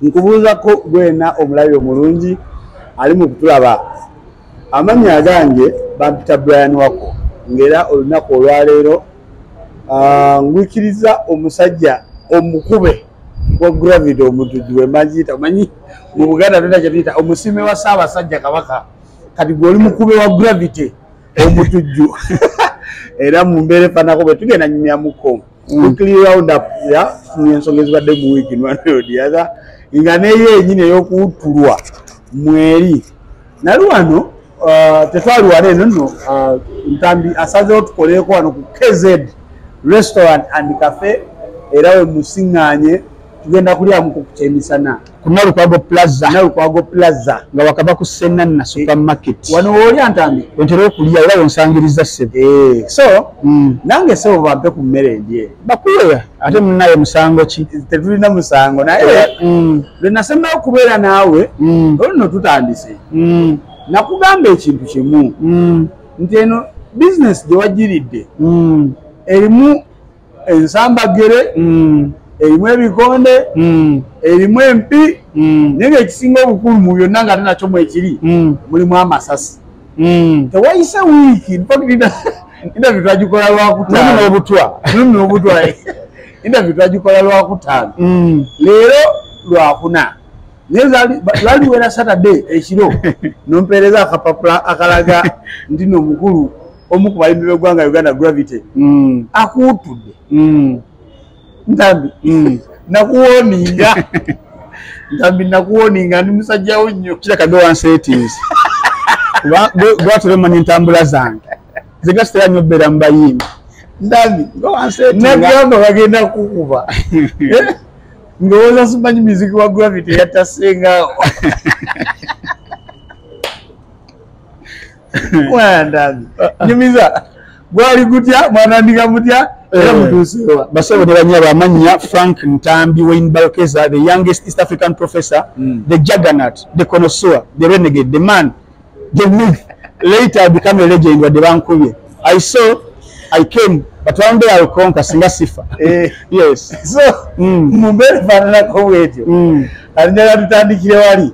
nkubuuzako gwena omulabi omulungi ali mu kutulaba amannya agange bampita brian wako ngaera olunaku olwaleero ah, ngwikiriza omusajja omukube wa gravity omutujju wemagiyita omanyi mu buganda tona kyetuyita omusiime wa saabasajja kabaka kati gwe oli mukube wa gravity omutujju era mu mbeera efanako bwe tugenda nyumyamuko mm. weekly round up ya tufunye ensonga ezibadde mu wiiki nwanodiatha nga neyo enyini eyokuwuttulwa mweri nali wano uh, tetwali wano eno no uh, ntambi asazewo tukoleeko wano ku kz restaurant and cafe era wemusiŋŋanye tugenda kulyamuko ku kyemisana ku nalukwago plaza nalukwago plaza nga wakava ku senanna supermarket eh, wano wooli antambi ontera okulya era wonsangiriza sebo eh, so mm. nange sebo bampe ku mmere endye bakuweya ate munaye musango ki tetulina musango naye eh, mm. lwe nasembayo okubeera naawe mm. oluno tutandise nakugamba ekintu kimu nti eno bizinesi gye wagiridde erimu ensambaggere mm. erimu ebikonde mm. erimu empi mm. naye ngaekisinga obukulu mu byonna nga ate nakyo mwekiri mulimu amasasi tewayise wiiki interview twagikola lwakutaanobutwa nobutwa interview twagikola lwakutaano leero lwakuna nayelwaliwera saturday ekiro nompeereza akapapula akalaga ndi nomukulu omu ku bayimbi b'eggwanga uganda gravity mm. akuwuttudde mm. ntambi mm. nakuwoninga ntambi nakuwoninga ndi musajjawo nnyo kirakadowansetis gwatulemanya entambula zange zigasitera nyo obeera mu bayimbi ntambi nagamba bagenda kukuba eh? ndowooza simanyi miziki wa gravity yatasengaawo mwandazi nyumiza gwali gutya mwanandika mutya era eh, mutuusewa basebo ne banyabo amannya frank ntambi wayne balkeza the youngest east african professor mm. the juggernaut the conosour the renegade the man the myth later become a legend wadde bankubye i saw i came but one day i'll conquer singa sifa eh. yes so mm. mumbeera faananako bwetyo mm. alinjala tutandikire wali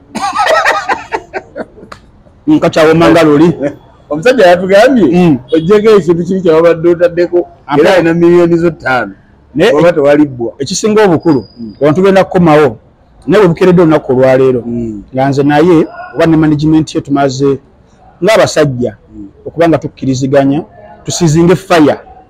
nkakyawoma nga luli omusajja yatugambye mm. ojjeko ekintu kiri kyewabadde otaddeko era alina miliyoni zo ttaano oba tewalibbwa ekisinga obukulu mm. abantu genda kukomawo naye bwebukeredde olunaku olwaleero mm. nga nze naye oba ne management ye tumaze ngaabasajja okuba nga tukkiriziganya tusizinge fire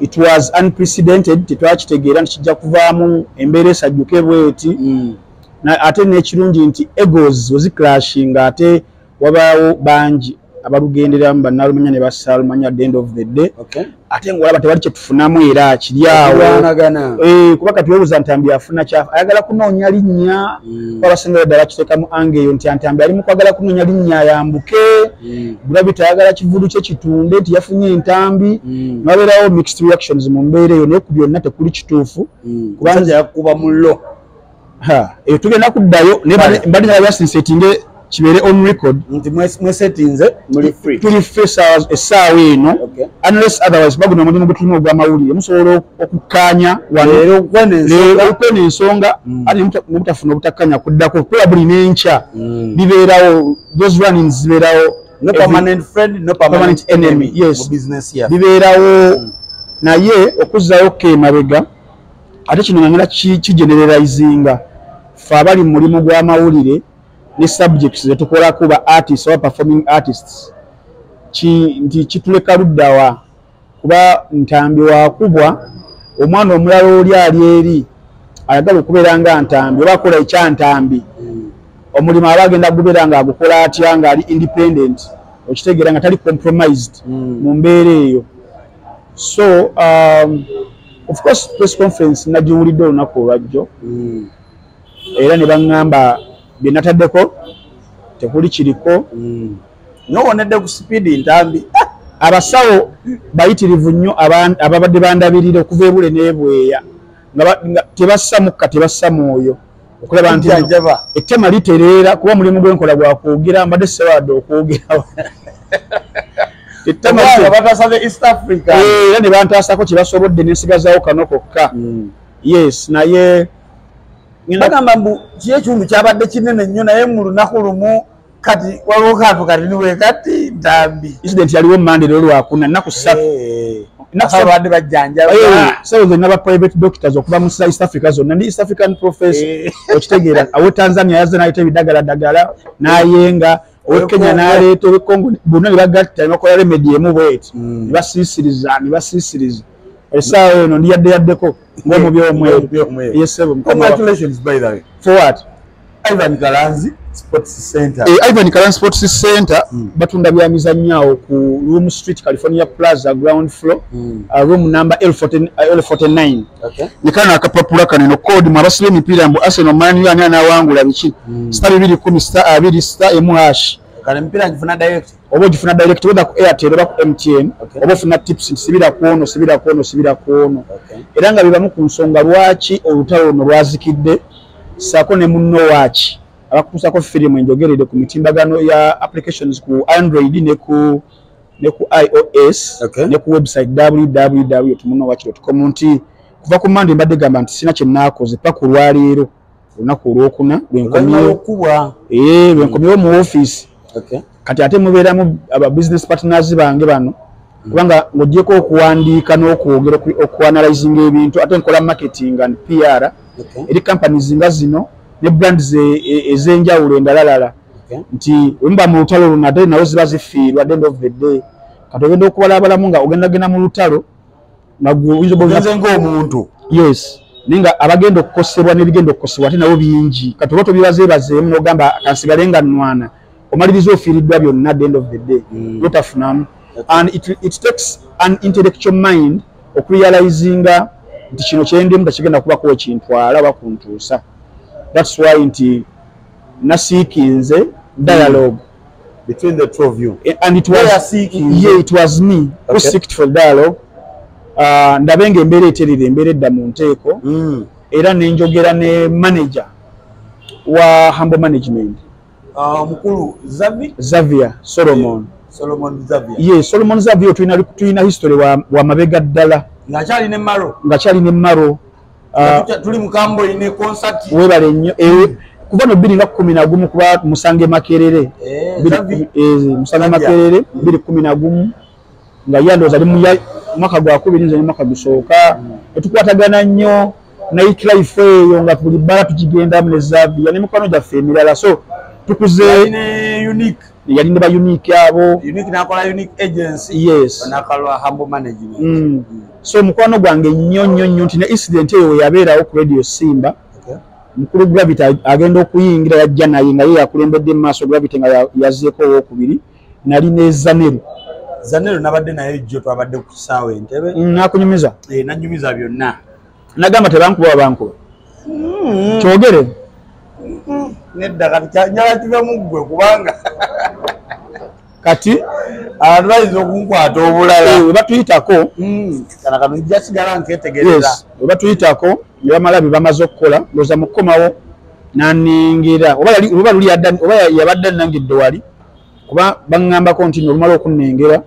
it was unprecedented tetwakitegeera nti kijja kuvaamu embeera esajjuke bweti mm. ate n'ekirungi nti egos weziclashing ate wabaawo bangi abalugenderamu banalumanya ne basalumanya at the end of the day okay. ate ngaolaba tewali kyetufunamu era kiryawo eh, kuba kati webuza ntambi afuna kyafu ayagala kunoonya linnya mm. abasinga ddala kitekamu ange eyo nti antambi ali mukwagala kunoonya linnya yambuke mm. gravity tayagala kivulu kye kitunde nti yafunye entambi mm. nabeerawo mixed reactions mu mbeera eyo naye ku byonna tekuli kituufu mm. kubanja yakuba mullo eyo tugenda kuddayo naye mbali nala yasinsetinge kibeere on record nti mwesetinze muli free tuli free essaawa eno unless otherwise baguna omulimu gwetulimu ogw'amawulire musobola okukkaanya waleero okwena ensonga mm. ati nebutafuna obutakkanya kuddako probably n'enkya mm. bibeerawo those running zibeerawo no permanent friend no permanent enemy yes business ya bibeerawo mm. naye okuzzayo ke mabega ate kino ngangala ki generalizinga fa bali mulimu gwa mawulire ne subjects ze tukola kuba artists or performing artists ki nti kituleka luddawa kuba ntambi wakubwa omwana omulala oli ali eri ayagala okubeera nga ntambi oba akola ekyantambi omulimu aba agenda gubeera nga agukola atya nga ali independent okitegeera nga tali compromised hmm. mu mbeera eyo so um, of course press conference nagiwulidde olunaku olwajjo hmm. era ne baŋŋamba bye nataddeko tekuli kiriko hmm. nowonedde ku sipiidi ntambi ah! abasawo bayitirivu nnyo ababadde bandabirira okuva ebule nebweya nga tebassa mukka tebassa mwoyo okulaba nti ettema litereera kuba mulimu gwenkola gwakwogera mbadde sewaadde okwogera era nebantasako kyebasobodde nensigazawo kano kokka hmm. yes naye bagamba mbu kyekitundu kyabadde kinene nnyo naye mu lunaku lumu kati waliwo kantu kati niwe kati ntambi incident yaliwo mande lero lwakuna naku satu eh, nakusabantu bajjanjaba eh, sayo zonna ba private doctors okuva mu east africa zonna ndi east african professor eh. okitegeera awo tanzania yaze nayita ebidagala dagala nayenga owe kenya naleeta owe congo bonna nebagatta nebakola remedi emu bweti hmm. nebasiisiriza nebasiisiriza esaawa eno ndiyaddeyaddeko ngaomubyomweyo yesebo congratulations by the way for what Ivan Kalanzi Sports Center. Eh, Ivan Kalanzi Sports Center mm. batunda bya mizannya awo ku Room Street California Plaza ground floor mm. uh, room number L49. L49. Okay. Nikana akapapula kaneno code mu abasile mipira mbu Arsenal Man U anana wangu la bichi. Mm. Star 210 star 2 star MH. Kana mipira ngifuna direct. oba ogifuna direct wether ku airtel oba ku mtn oba ofuna tips nti sibira kwono sibira kwono sibira kwono era nga bibamu ku nsonga lwaki olutalo luno lwazikidde saako ne munno waaki abakutuusako firimu enjogerede ku mitimbagano ya applications ku android ne ku ne ku ios okay. ne ku website www tumunowakiro tukomu nti kuva ku mande mbadde gamba nti sina kyenakoze paku lwaleero olunaku olwokuna lwenkomyewo eh, mu ofiisi kati ate mubeeramu aba business partners bange bano hmm. kubanga ng'ogyeko okuwandiika n'okwogera okuanalizinga ebintu ate nkola marketing and pr eri companies nga zino ne brands e, e, ez'enjawulo endalalala nti wemuba mu lutalo luno ate nawo ziba zifiirwa the end of the day kati ogenda okubalabalamu nga ogenda genda mu lutalo nagwenze ngaomuntu yes naye nga abagenda okukosebwa nebigenda okukosebwa ate nabo bingi kati oba tobibazeebazeemu nogamba kansigale nga nwana omaliriza ofiiriddwa byonna the end of the day mm. notafunamu and it, it takes an intellectual mind okurealizinga nti kino kyendimu tekigenda kubako ekintwala oba kuntuusa thats why nti nasiikinze dialogue mm. between the two of you eh, and it was yeah it was me okay. who seeked for dialogue uh, ndabe nga embeera eterera embeera edda mu nteeko mm. era nenjogera ne manager wa humble management ah, omukulu uh, zavi zavia solomon solomon zavia ye yeah, solomon zavia tulina history wa, wa mabega ddala nga kyali ne maro nga kyali ne maro Ah, tuli mukambo ine concert webale nnyo eh, kuva no biri nga kumi na gumu kuba musange makerere eh, eh, musange makerere mm. biri kumi na gumu nga ye ndooza ali mu mwaka gwa kubiri nze ne mwaka gusooka etukwatagana mm. nnyo nayitlife eyo nga tuli bbala tukigendamu ne zaviya ne mikwano gyaffe emirala so tukuze yali ne ba unique abo yes. so mukwano gwange nnyo nnyo nnyo nti ne incident eyo weyabeerawo ku radio simba mukulu gravity agenda okuyingira yajja naye nga ye yakulembedde mu maaso gravity nga yazeeko owokubiri nali ne zaneru zaneru nabadde naye jjo twabadde ku kisaawa entebe mm, nakunyumiza eh, nanyumiza byonna nagamba tebankuba wabankuba mm. kyogere mm. nedda kati nyala kiva muggwe kubanga kati abantu bayinza okunkwata obulala eh, webatuyitako hmm, kana kano ija sigala nketegereza webatuyitako nebamala byebamaze okukola loza mukukomawo naningira oba yabadde anangidde wali kuba baŋambako nti nolumala okunengera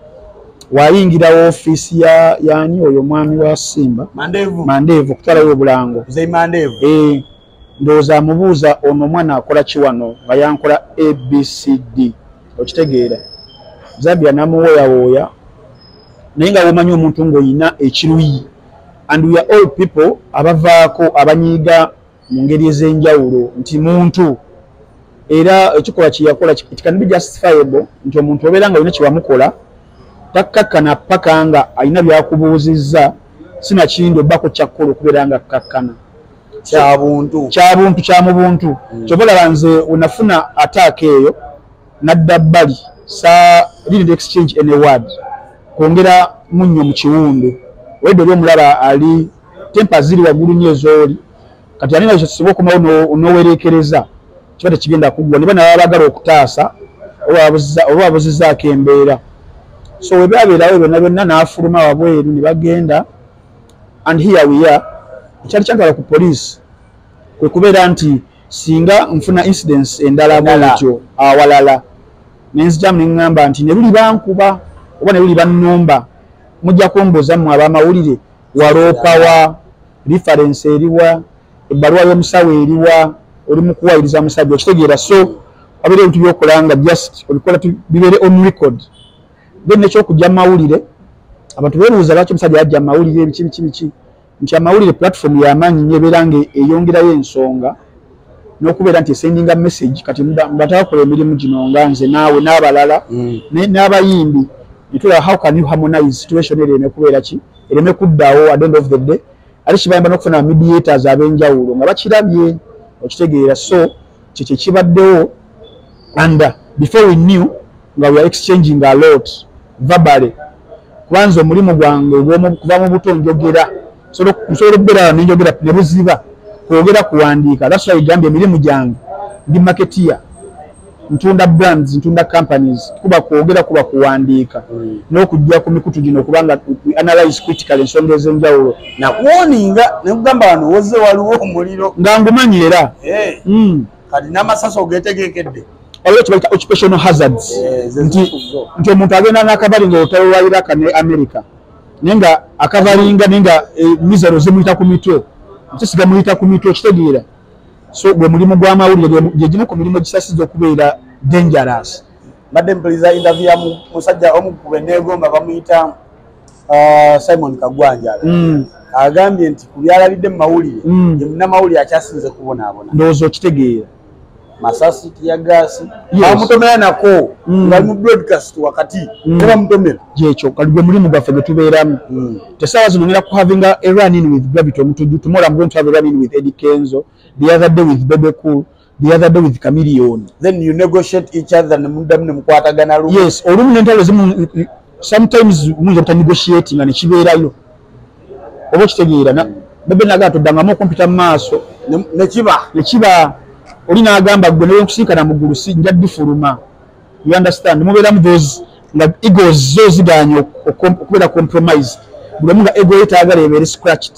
wayingira wofiisi yani oyo omwami wa simba mandeevu okutwalayo obulango ndowooza amubuuza ono omwana akola ki wano nga yankola abcd okitegeera zabira namuwooyawooya naye nga womanyi omuntu ngaolina ekiruyi and weare all people abavaako abanyiiga mu ngeri ez'enjawulo nti muntu era ekikolwa kyeyakola it can be justifiable nti omuntu obeera nga olina kyewamukola takkakkana paka nga alina byakubuuzizza sinakindi obbako kyakkola okubeera nga kkakkana kyabuntu kyabuntu kya mu buntu mm. kyoba olaba nze wenafuna ataaka eyo nadda bbali sa didn't exchange any word kwongera munnyo mu kiwundu wede oli omulaba ali tempa ziri waggulu nyo ezooli kati alina ekyo tusobola okumawo nowereekereza kiba tekigenda kuggwa niba naba bagala okutaasa oba wabuzizaako embeera so webabeerawo byonna byonna n'afuluma wabweru ne bagenda and here we are ekyali kyantwala ku poliisi kwe kubeera nti singa nfuna incidents endala bwentyo awalala nenzijamu neŋŋamba nti ne luli bankuba oba ne luli bannumba mujja kumbuuza mmwe ab'amawulire waloopawa referensi eriwa ebbaluwa y'omusawo eriwa oli mu kuwayiriza musajja okitegeera so wabeera ebintu byokola nga just obikola bibeere on record then nekyokujja mawulire abantu bebuuza lwaki omusajja yajja mawulire biki biki biki nti amawulire platform yamaanyi nyo ebeera nga eyongerayo ensonga nokubeera nti esendinga message kati mbatakola emirimu gino nga nze naawe n'abalala mm. n'abayimbi netulaba how can you harmonize situation eri ereme kubeera ki ereme kuddawo at end of the day ate kibayamba nokufuna mediators abenjawulo nga bakirabye okitegeera so kyekye kibaddewo and uh, before we knew nga we are exchanging a lot verbally kubanza omulimu gwange kuva mu buto njogera nsobola okubeera wano nenjogera ne buziba kwogera kuwandiika that's why gambye emirimu gyange ndi marketeer ntunda brands ntunda companies kuba kwogera kuba kuwandiika mm. n'okujja ku mikutu gino kubanga analyze critical ensonga ez'enjawulo nakuwoninga nekugamba wano woze waliwo omuliro nga ngumanyi era eh. hmm. kati namasasi ogetegekedde waliwo kibaita occupational hazards eh, nti omuntu agenda nakabali nga olutalo lwa iraka ne america naye nga akabalinga naye nga eh, mizero zimuyita ku mitwe kisisiga muyita ku mitwe okitegeera so gwe mulimu gwamawulire gyegimu ku mirimu gisasiza okubeera dangerous mbadde mpuliza interview ya musajja omu ku beneegomba bamuyita uh, simon kagwanja mm. agambye nti ku byalabidde mu mawulire mm. ye munnamawulire akyasinze kubonaabona ndowooza okitegeera masasi tiyagaasi bamutomera nako mm. nga mu broadcast wakati mm. ne bamutomera gyekyo kali gwe mulimu gwaffe gwe tubeeramu mm. tesaawa zino ngera kuhavinga a run in with gravity omutuju tomorrow i'm going to have a run in with eddie kenzo the other day with bebe cool the other day with chameleon then you negotiate each other ne mudamu ne mukwatagana lu yes olumu ne ntalo zimu sometimes muyinza buta negotiate nga ne kibeerayo oba okitegeera na bebe nagaa toddangamu okumpita mu maaso ne kiba ne kiba oli n'agamba gwe newe nkusinkana mu ggulu si nja difuluma you understand mubeeramu those nga egos zo zigaanye okubeera compromise buli omu nga ego yetaagala ebeere scratched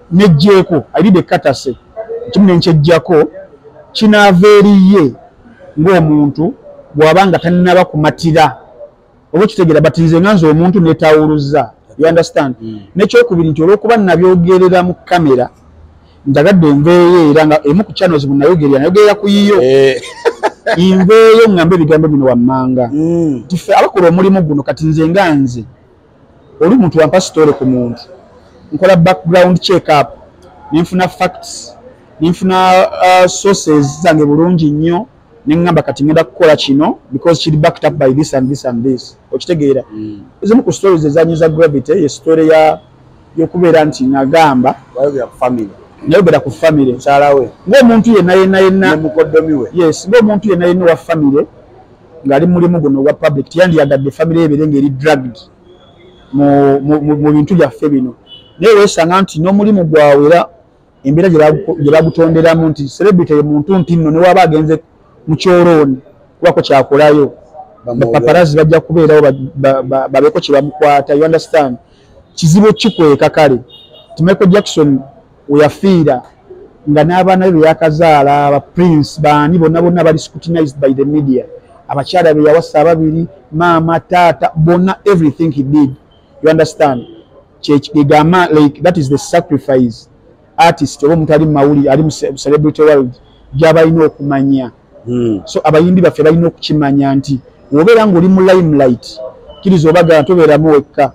nejjeeko alide ekkatase ekimu ne nkyejjako kinaava eriye ng'omuntu bw'aba nga tannaba kumatira oba okitegera but nze nga nze omuntu netawuluza you understand mm. nekyokubiri nti olwokuba nabyogerera mu kamera njagadde nveeyo era nga emu ku channels munayogerera nayogerera ku yiyo eh. nveeyo ngamba ebigambo bino wammanga mm. tife abakola omulimu guno kati nze nga nze oli muntu wampa sitole ku muntu nkola background check up nenfuna facts nenfuna uh, sources zange bulungi nnyo neŋŋamba kati ŋenda kukola kino because kiri backed up by this and this and this okitegeera mm. ezimu ku stories ezanyiza gravity ye story ya yokubeera nti nagamba nayogera ku famire mukyalawe ngaomuntu yenna yenna yenna mukoddomiwe yes ngaomuntu yenna yenna wa famire ng'ali mulimu guno ogwa public teyandiyagadde famire yebeere ng'eri drugged mu bintu byaffe bino naye weesanga nti n'omulimu gwawe era embeera gye bagutonderamu nti celebrity ye muntu nti nno newaaba agenze mu kyolooni kubako kyakolayo bapaparazi bajja kubeerawo babeeko kye bamukwata you understand kizibu kikweka kale ti michael jackson weyafiira nga n'abaana be beyakazaala ba prince baani bonna bonna bali scrutinized by the media abakyala be yawasa ababiri maama taata bonna everything he did you understand kyekigamba like that is the sacrifice artist oba omuntu ali mu mawulire ali mu celebrity world gyabalina okumanya hmm. so abayimbi baffe balina okukimanya nti wobeera ngaoli mu limelight kiriza obagala tobeeramu wekka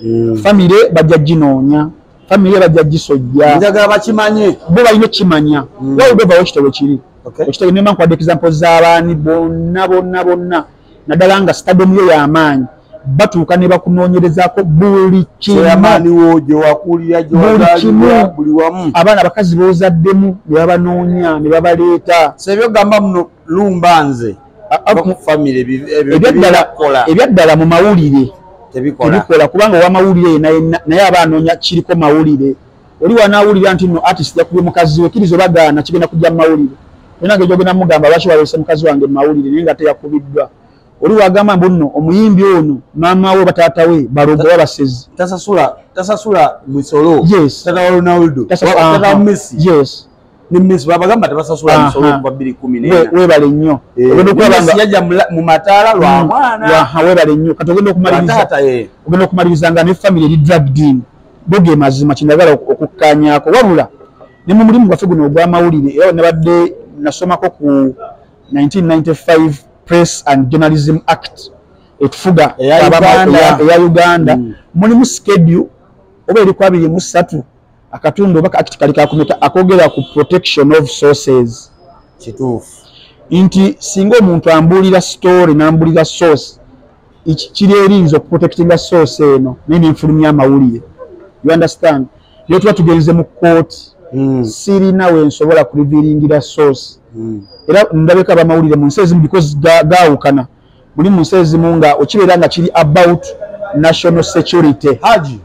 mm. famire bajja ginoonya famire bajja gisojja njagala bakimanye bo balina okukimanya mm. wali bevawo ekitabo kiri ekitabo nema nkwada example z'abaani bonna bonna bonna naddala nga stadium yo yamaanyi batuuka ne bakunoonyerezako buli kimuamaniwo gyewakulira gyewaaliwa buli wamu abaana abakazi boozaddemu ne babanoonya ne babaleeta sebyogamba muno lumba nze ebyaddala mu mawulire tebikola kubanga owamawulire yena naye aba anoonya kiriko mawulire oli wanawulira nti no artist yakubye mukazi we kiriza obagaana kigenda kujja mumawulire enange gyogenda mugamba lwaki walese mukazi wange mumawulire naye nga teyakubiddwa oli wagamba mbu nno omuyimbi ono maama we bataata we balogo oba basezi tasasula tasasula misolo yes tata wa ronaldo tata wa messi yes nemmes babagamba tebasasula misolo okuva bbiri kumi webale nnyo yajja mu mataala lwa mm. mwana webale nnyo kati ogenda okumalirizaata ogenda okumaliriza nga ne famiry eri dragdin boge mazima kyendagala okukkanyako wabula ne mu mulimu gwaffe guno ogw'amawulire era nabadde nasomako ku 1995 press and journalism act etufuga eya uganda mm. mulimu skedule oba eri ku abiri mu ssatu akatundu oba kati kali kakumeka akogera ku protection of sources kituufu nti singa omuntu ambuulira story nambuulira source kiri erinza okuprotectinga source eno naye nenfulumya amawulire you understand naye tuba tugenze mu kooti hmm. sirina wensobola kuriviringira source hmm. era ndabeka abamawulire mu nsi ezimu because gawukana ga muli mu nsi ezimu nga okibeera nga kiri about national security haji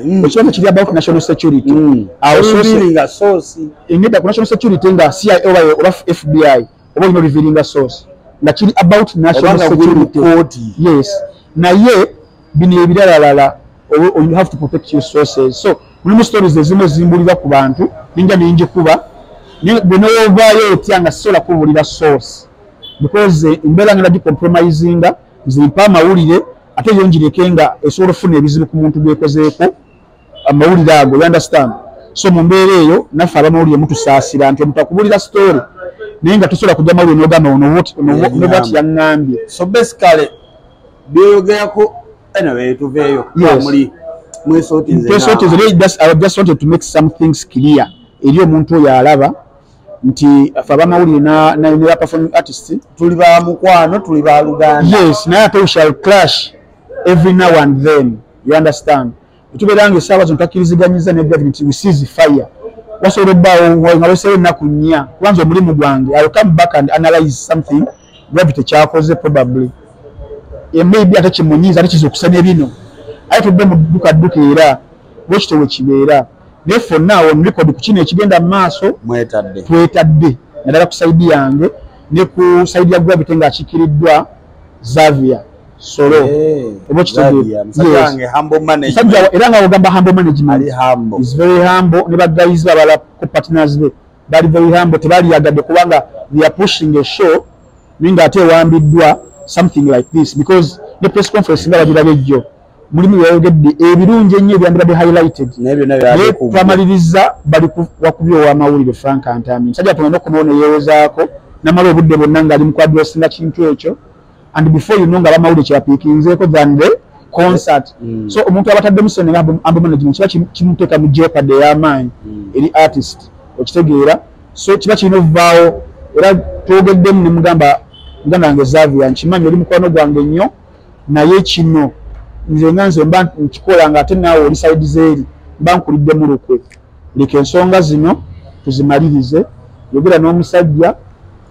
mm. okiba nga kiri about national security mm. awoineda eh, ku national security nga ci oba fbi oba olina oliviringa source nga kiri about national security yes naye bino ebiralalala you have to protect your sources so mulimu stories ezimu ezimbulira ku bantu ninja ninjikuba bwe nowovaayo otya nga sisobola kubulira source because eh, embeera ngenda gicompromisinga nzimpa amawulire ate yonjireke nga esobola okufuna ebizibu ku muntu gwekozeeko amawulire ago you understand so mu mbeera eyo naffe abamawulire mutusaasira nti omutakubulira story naye nga tosobola kujja mawulire nogamba onobwati yaŋŋambye so basically byoyogerako Anyway, tuveyo. Yes. Muli. Mwe soti nze. Mwe soti nze. Just, I just wanted to make some things clear. Elio muntu ya alaba. Nti faba mauli na na ina performing artist. Tuliba mkwano, tuliba luganda. Yes. Na ya pe we shall clash every now and then. You understand? tubeera nga esaawa zino takkiriziganyizza ne gavumenti nti wisizi fire wasobola obbaawo nga weseewo ennaku nnya kubanza omulimu gwange i will come back and analyze something gravity kyakoze probably e maybe ate kimunyiiza ate kiza okusa ne bino aye tudde mu dduka dduka era bwekityo we kibeera naye fonna awo nrekodi ku kino ekigenda mu maaso twetadde naddala ku saidi yange ne ku saidi ya gravity ng'akiikiriddwa zavia solo oba kitegeemusajja era nga ogamba humble management is very humble ne bagayizi babala ku partners be bali very humble tebaliyagadde kubanga they are pushing a show naye nga ate ewambiddwa something like this because ne press conference nga bagiraga ejjo mulimu byeyayogedde ebirungi ennyo ebyandibadde highlighted naye twamaliriza bali wakubya owamawulire frank antami musajja tuna nokumawo neyewozaako namala obudde bonna ngaali mu kwadressinga kintu ekyo and before you know nga bamawulire kyebapiikinzeeko than the concert mm. so omuntu abataddemu sente nga ambo management kiba kimuteeka mu jeopard ey'amaanyi mm. eri artist okitegeera so kiba kirina okuvaawo era twogeddemu ne mugamba muganda wange zavia nkimanyi oli mukwano gwange nnyo naye kino nze nga nze mba nkikola nga ate naawe oli saidi zeeri mba nkuliddemu lukwe leka ensonga zino tuzimalirize yogera n'omusajja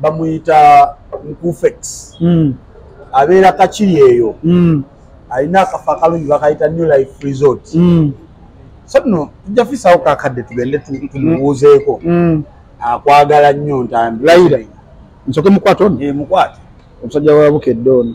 bamuyita nkufex mm. abeera kakiri eyo mm. alina akafa akalungi bakayita new life resort mm. so no tujja fisawo kakadde tugende tumubuuzeeko mm. akwagala nnyo ntambi layira nsoke mukwata ono eh, mukwata omusajja wa bukedde ono